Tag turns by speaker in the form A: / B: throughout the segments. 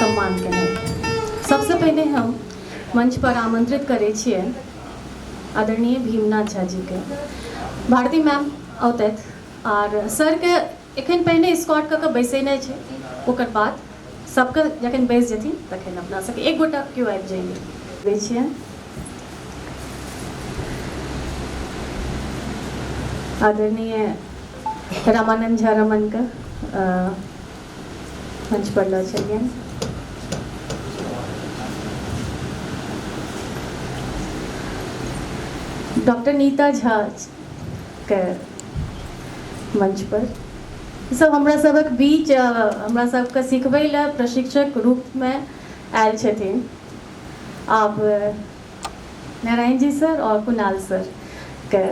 A: सम्मान केनाइ सबसे पहिले हम मंच पर आमंत्रित करै छियै आदरणीय भीमनाथ झा जी के भारती मैम औतथि आर सर के एखन पहिने इस्कॉर्ट कऽ कऽ बैसेनाइ छै ओकर बाद सभके जखन बैस जेथिन तखन अपना सभके एक गोटा केओ आबि जाइए दै छियनि आदरणीय रामानंद झा रमनके मंच पर लऽ चलियनि डॉक्टर नीता झा के मंच पर सब हमरा सबक बीच हमरा सबके सिखबै लए प्रशिक्षक रूप में आयल छथिन आप नारायण जी सर और कुणाल सर के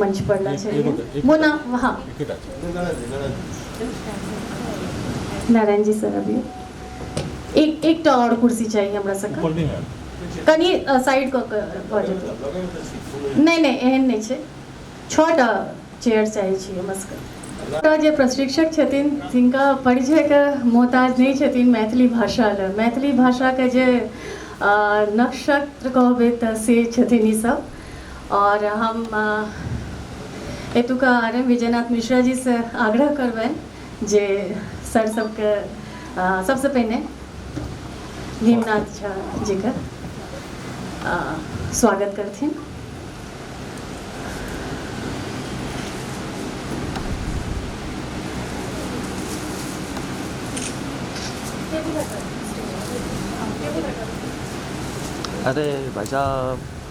A: मंच पर ला छथिन मोना हाँ नारायण जी सर अभी एक एकटा आओर कुर्सी चाही हमरा सबके ऊपर नहीं है कनी साइड कऽ के भऽ जेतै नहि नहि एहन नहि छै छओटा चेयर चाहै छी हमरा सबके ओतऽ जे प्रशिक्षक छथिन तिनका परिचयके मोहताज नहि छथिन मैथिली भाषा लए मैथिली भाषाके जे अ, नक्षत्र कहबै तऽ से छथिन ई सब आओर हम अ, एतुका आर एम विजयनाथ मिश्रा जी से आग्रह करबनि जे सर सबके अ, सबसँ पहिने भीमनाथ झा जीके अ, स्वागत करथिन अरे भाई साहब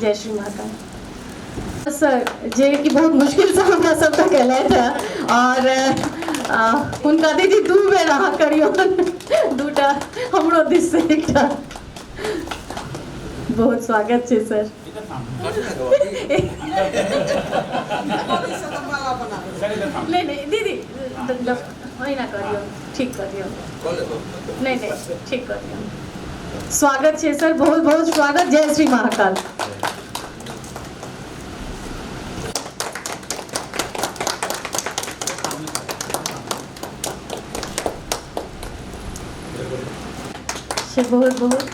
A: जय श्री माता सर जे कि बहुत मुश्किल से हमरा सब तक एलथि हँ और आ, हुनका दीदी दू बेर अहाँ करियौ दूटा हमरो दिस से एकटा बहुत स्वागत छै सर नहीं नहीं दीदी ओहिना कऽ दियौ ठीक कऽ दियौ नहि नहि ठीक कऽ दियौ स्वागत छै सर बहुत बहुत स्वागत जय श्री महाकाल से बहुत बहुत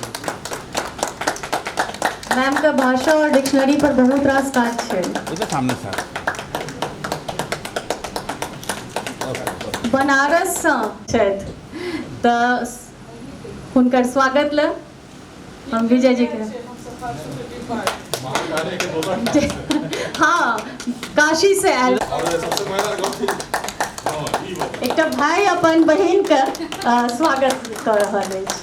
A: मैम का भाषा और डिक्शनरी पर बहुत रास काज छै ओहिके सामने सर बनारससँ छथि तऽ हुनकर स्वागत लए हम विजय जी के हाँ काशी से आयल एकटा भाई अपन बहन के अ, स्वागत कर रहल अछि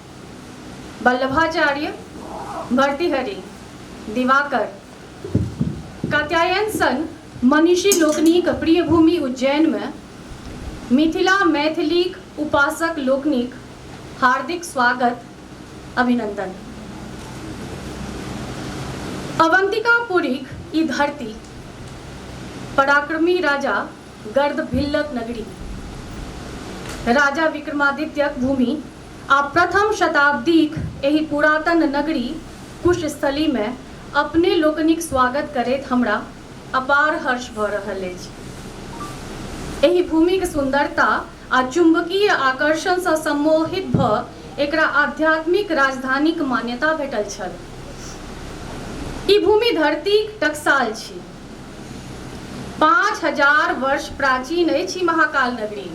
A: बल्लभाचार्य भर्तृहरि, दिवाकर, कात्यायन सन मनीषी लोकनिक प्रिय भूमि उज्जैनमे मिथिला मैथिलीक उपासक लोकनिक हार्दिक स्वागत अभिनन्दन। अवन्तिकापुरीक ई धरती, पराक्रमी राजा गर्दभिल्लक नगरी, राजा विक्रमादित्यक भूमि आ प्रथम शताब्दीक एहि पुरातन नगरी कुशस्थलीमे अपने लोकनिक स्वागत करैत हमरा अपार हर्ष भऽ रहल अछि। एहि भूमिक सुन्दरता आ चुम्बकीय आकर्षणसँ सम्मोहित भऽ एकरा आध्यात्मिक राजधानीक मान्यता भेटल छल। ई भूमि धरतीक टकसाल छी। पाँच हजार वर्ष प्राचीन अछि ई महाकाल नगरी।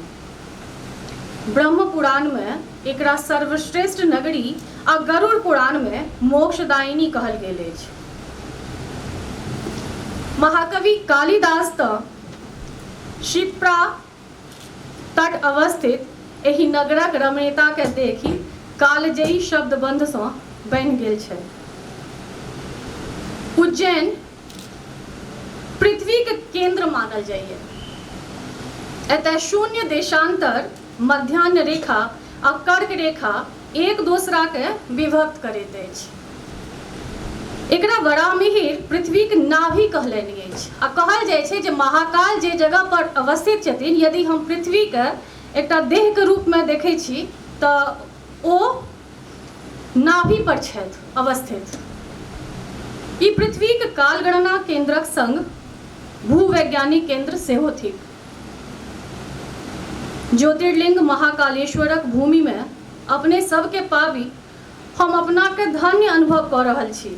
A: ब्रह्म पुराण मे एकरा सर्वश्रेष्ठ नगरी आ गरुड़ पुराण मे मोक्षदायिनी कहल गेल अछि। महाकवि कालिदास तँ शिप्रा तट अवस्थित एहि नगरक रमणीयता केँ देखि कालजयी शब्दबन्ध सँ बन्हि गेल छथि। उज्जैन। पृथ्वीक केन्द्र मानल जाइए। एतय शून्य देशान्तर, मध्याह्न रेखा आ कर्क रेखा एक दोसराकेँ विभक्त करैत अछि। एकरा वराहमिहिर पृथ्वीक नाभि कहलनि अछि आ कहल जाइत छै जे महाकाल जे जगह पर अवस्थित छथिन यदि हम पृथ्वीकेँ एकटा देहक रूपमे देखैत छी तँ ओ नाभि पर छथि अवस्थित। ई पृथ्वीक कालगणना केंद्रक संग भूवैज्ञानिक केंद्र सेहो थिक। ज्योतिर्लिंग महाकालेश्वरक भूमि मे अपने सभ केँ पाबि हम अपना केँ धन्य अनुभव कऽ रहल छी।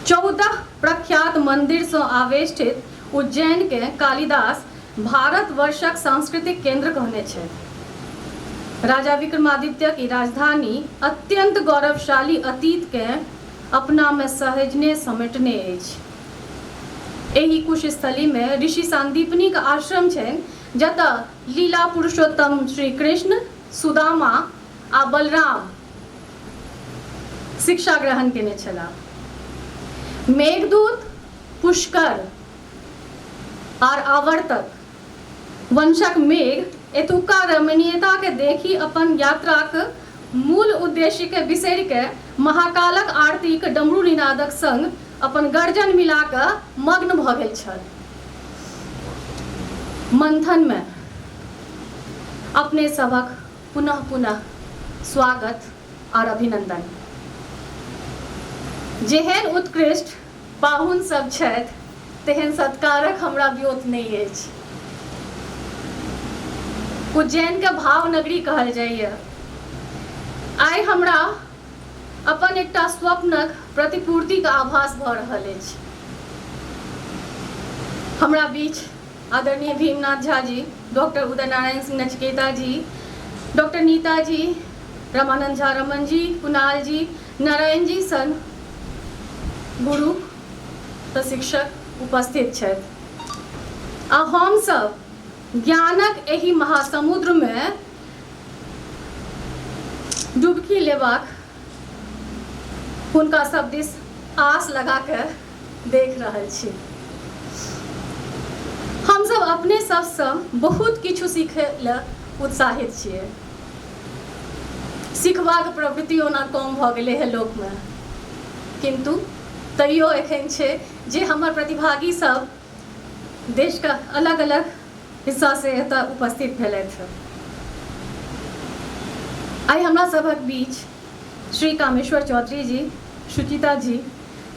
A: चौदह प्रख्यात मंदिर सँ आवेष्टित उज्जैन केँ कालिदास भारतवर्षक सांस्कृतिक केन्द्र कहने छथि। राजा विक्रमादित्यक ई राजधानी अत्यन्त गौरवशाली अतीतकेँ अपनामे सहेजने समेटने अछि। एहि कुशस्थलीमे ऋषि सान्दीपनीक आश्रम छनि जतऽ लीला पुरुषोत्तम श्री कृष्ण, सुदामा आ बलराम शिक्षा ग्रहण केने छलाह। मेघदूत, पुष्कर। आर आवर्तक वंशक मेघ एतुका रमणीयताकेँ देखि अपन यात्राक मूल उद्देश्यकेँ बिसरि कऽ महाकालक आरतीक डमरू-निनादक संग अपन गर्जन मिला कऽ मग्न भऽ गेल छल। मंथनमे अपने सभक पुनः पुनः स्वागत आर अभिनंदन। जेहेन उत्कृष्ट पाहुन सभ छथि तेहेन सत्कारक हमरा व्योत नहि अछि। उज्जैन केँ भाव नगरी कहल जाइए। आइ हमरा अपन एकटा स्वप्नक प्रतिपूर्तिक आभास भऽ रहल अछि। हमरा बीच आदरणीय भीमनाथ झा जी, डॉक्टर उदय नारायण सिंह नचिकेता जी, डॉक्टर नीता जी, रमानंद झा रमण जी, कुणाल जी, नारायणजी सन गुरुक प्रशिक्षक उपस्थित छथि आ हम सब ज्ञानक एहि महासमुद्र मे डुबकी लेबाक हुनका सब दिस आस लगा के देख रहल छी। हम सब अपने सब सँ बहुत किछु सीखय ले उत्साहित छियै। सिखबाक प्रवृत्ति ओना कम भऽ गेलै हे लोकमे किन्तु तैयो एखन छै जे हमर प्रतिभागी सब देशके अलग अलग हिस्सा से एतऽ उपस्थित भेलथि हँ आइ हमरा सभक बीच श्री कामेश्वर चौधरी जी सुचिता जी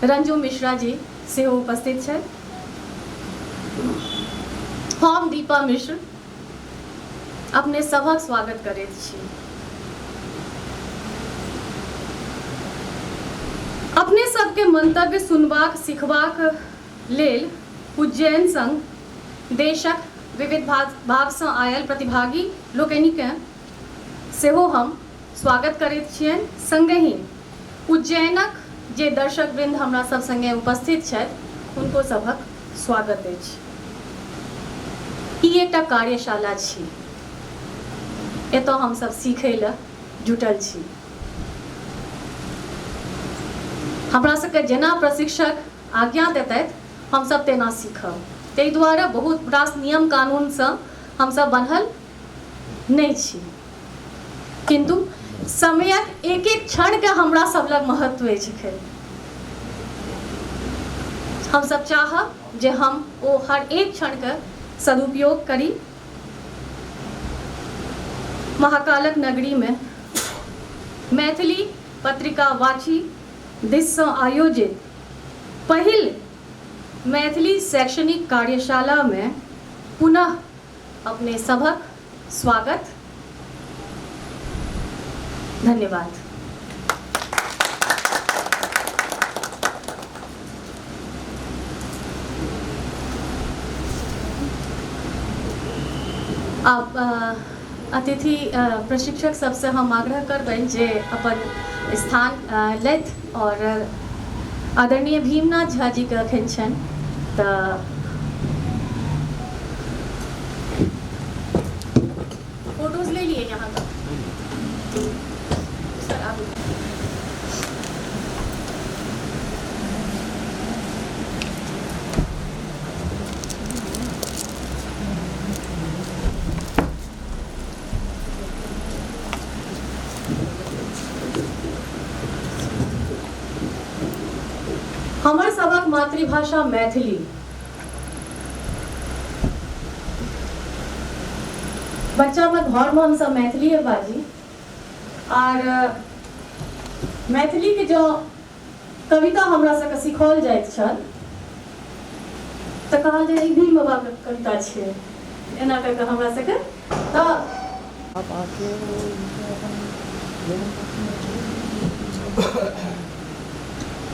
A: रंजू मिश्रा जी सेहो उपस्थित छथि हम दीपा मिश्र अपने सभक स्वागत करैत छी। अपने सभके मंतव्य सुनबाक, सिखबाक लेल उज्जैन संग देशक विविध भागसँ आयल प्रतिभागी लोकनिकेँ सेहो हम स्वागत करैत छियनि। संगहि। उज्जैनक जे दर्शकवृन्द हमरा सभ संगे उपस्थित छथि हुनको सभक स्वागत अछि। ई एकटा कार्यशाला छी। एतय हम सभ सीखय ल जुटल छी। हमरा सभकेँ जेना प्रशिक्षक आज्ञा देतथि हम सभ तेना सीखब। ताहि दुआरे बहुत रास नियम कानून सँ हम सभ बन्हल। नहि छी किन्तु समयक एक एक क्षणके हमरा सब लग महत्व अछि एखन हमसब चाहब जे हम ओ हर एक क्षणके सदुपयोग करी महाकालक नगरीमे मैथिली पत्रिका वाची दिससँ आयोजित पहिल मैथिली शैक्षणिक कार्यशालामे पुनः अपने सभक स्वागत। धन्यवाद। आब अतिथि प्रशिक्षक सभसँ हम आग्रह करबनि जे अपन स्थान लैथ। आओर आदरणीय भीमनाथ झा जी के अखन छनि तऽ फोटोज ले लिए यहाँ का सर आप हमर सबक मातृभाषा मैथिली बच्चा में घर में हम सब मैथिली बाजी आर मैथिली के जो कविता हमरा सबके सिखाओल जाइत छल तऽ कहल जे ई भीम बाबाके कविता छै एना कऽ कऽ हमरा सबके तऽ